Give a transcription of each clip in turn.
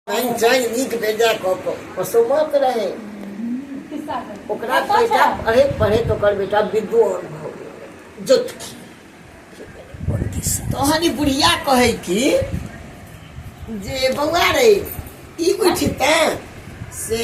पानि चाय नीक बेजा कऽ कऽ पसोमक रहै ओकरा बेटा पढ़ैत पढ़ैत ओकर बेटा विद्वान भऽ गेल जोतकी तहन ई बुढ़िया कहै कि जे बौआ रे ई उठिते से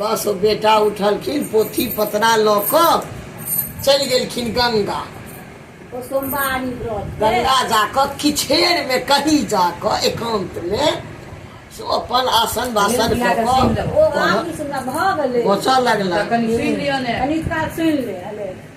बस ओ बेटा उठलखिन पोथी पतरा लऽ कऽ चलि गेलखिन गंगा ओ सोमवारी व्रत के। गंगा जाकऽ किछेर में कहीं जाकऽ एकांत में से ओ अपन आसन बासन कऽ ओ कऽ रामकृष्ण भऽ गेलै बचऽ लगला कनि सुनि लिअ ने कनिक काल सुनि ले हले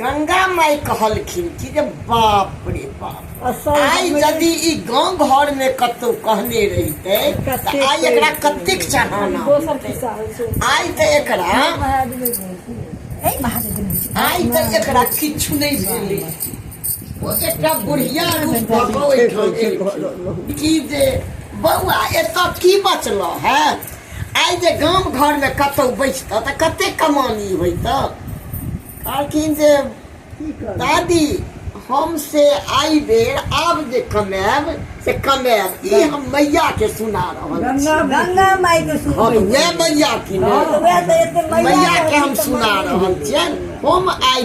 गंगा माई कहलखिन कि जे बाप रे बाप असल आइ हमरे- यदि ई गांव घर में कतौ कहने रहिते तऽ कतेक आइ एकरा पैसा कतेक चाहना दोसर होइतै। खिस्सा होइ छै आइ तऽ एकरा एहि महादेव दिन होइ छै। आइ तऽ एकरा किछु नहि भेलै ओ एकटा बुढ़िया रूप भऽ कऽ ओहिठाम एलखिन कि जे बौआ एतऽ की बचलऽ है आइ जे गाम घरमे कतहु बैसतऽ तऽ कते कमानी होइत कहलखिन जे दादी हम से आइ बेर आब जे कमायब से कमायब ई हम मैया के सुना रहल छी गंगा माई के सुन हम वएह मैया की ने हँ, तऽ वएह तऽ एते मैया मैया के हम सुना रहल छियनि हम आइ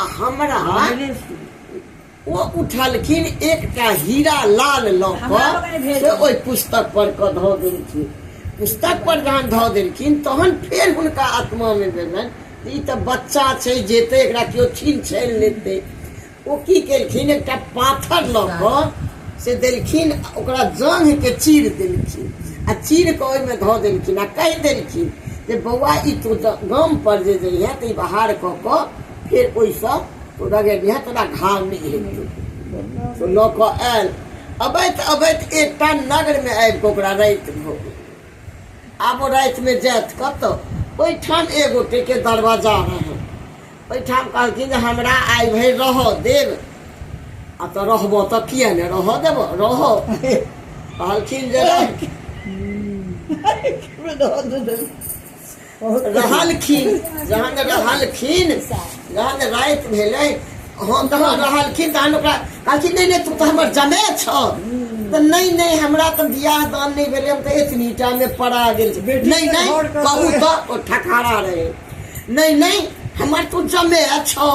आ हमरा हमरे से। ओ उठलखिन एकटा हीरा लाल लऽ हमरा कऽ बगल भेज से ओहि पुस्तक पर कऽ धऽ देलखिन पुस्तक पर जहन धऽ देलखिन तहन फेर हुनका आत्मा मे भेलनि जे ई तऽ बच्चा छै जेतै एकरा केओ छीन छानि लेतै ओ की केलखिन एकटा पाथर लऽ कऽ से देलखिन आ ओकरा जांघ के चीर देलखिन आ चीर कऽ ओहिमे धऽ देलखिन आ कहि देलखिन जे बौआ ई तू गाम पर जे जइहे तऽ ई बहार कऽ कऽ फेर ओहिसँ ओ डगेनिया तोरा घाव नहि हेतौ तऽ लऽ कऽ आयल अबैत अबैत एकटा नगरमे आबि कऽ ओकरा राति भऽ गेल आब ओ रातिमे जायत कतऽ ओहिठाम एगोटेके दरवाजा रहै ओहिठाम कहलखिन जे हमरा आइ भरि रहऽ देब आ तऽ रहबऽ तऽ किए ने रहऽ देब रहऽ कहलखिन जे रह- रहलखिन जहन रहलखिन जहन राति भेलै हम तहन रहलखिन तहन ओकरा कहलखिन नहि नहि तू तऽ हमर जमे छौ तऽ नहि नहि हमरा तऽ बियाह दान नहि भेलै हम तऽ एतनी टामे पड़ा गेल छी बेटी नहि के नहि घर का कहू समय। तऽ ओ ठकारा रहै नहि नहि हमर तू जमे छौ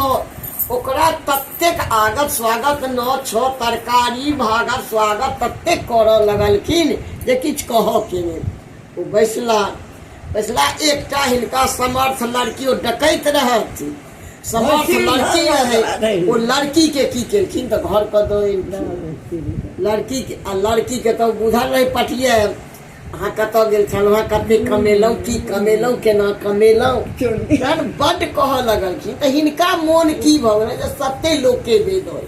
ओकरा ततेक आगत स्वागत न छौ तरकारी भागत स्वागत ततेक करऽ लगलखिन जे किछु कहऽ के नहि ओ बैसला बैसला एकटा हिनका समर्थ लड़की ओ डकैत रहथि समर्थ लड़की रहै ओ लड़की के की केलखिन तऽ घर पर दऽ एलखिन लड़की के आ लड़की के तऽ बुझल रहै पटिये अहाँ कतऽ गेल छलहुँ अहाँ कते कमेलहुँ की कमेलहुँ केना कमेलहुँ तहन बड्ड कहऽ लगलखिन तऽ हिनका मोन की भऽ गेलै जे सत्ते लोकके भेल होय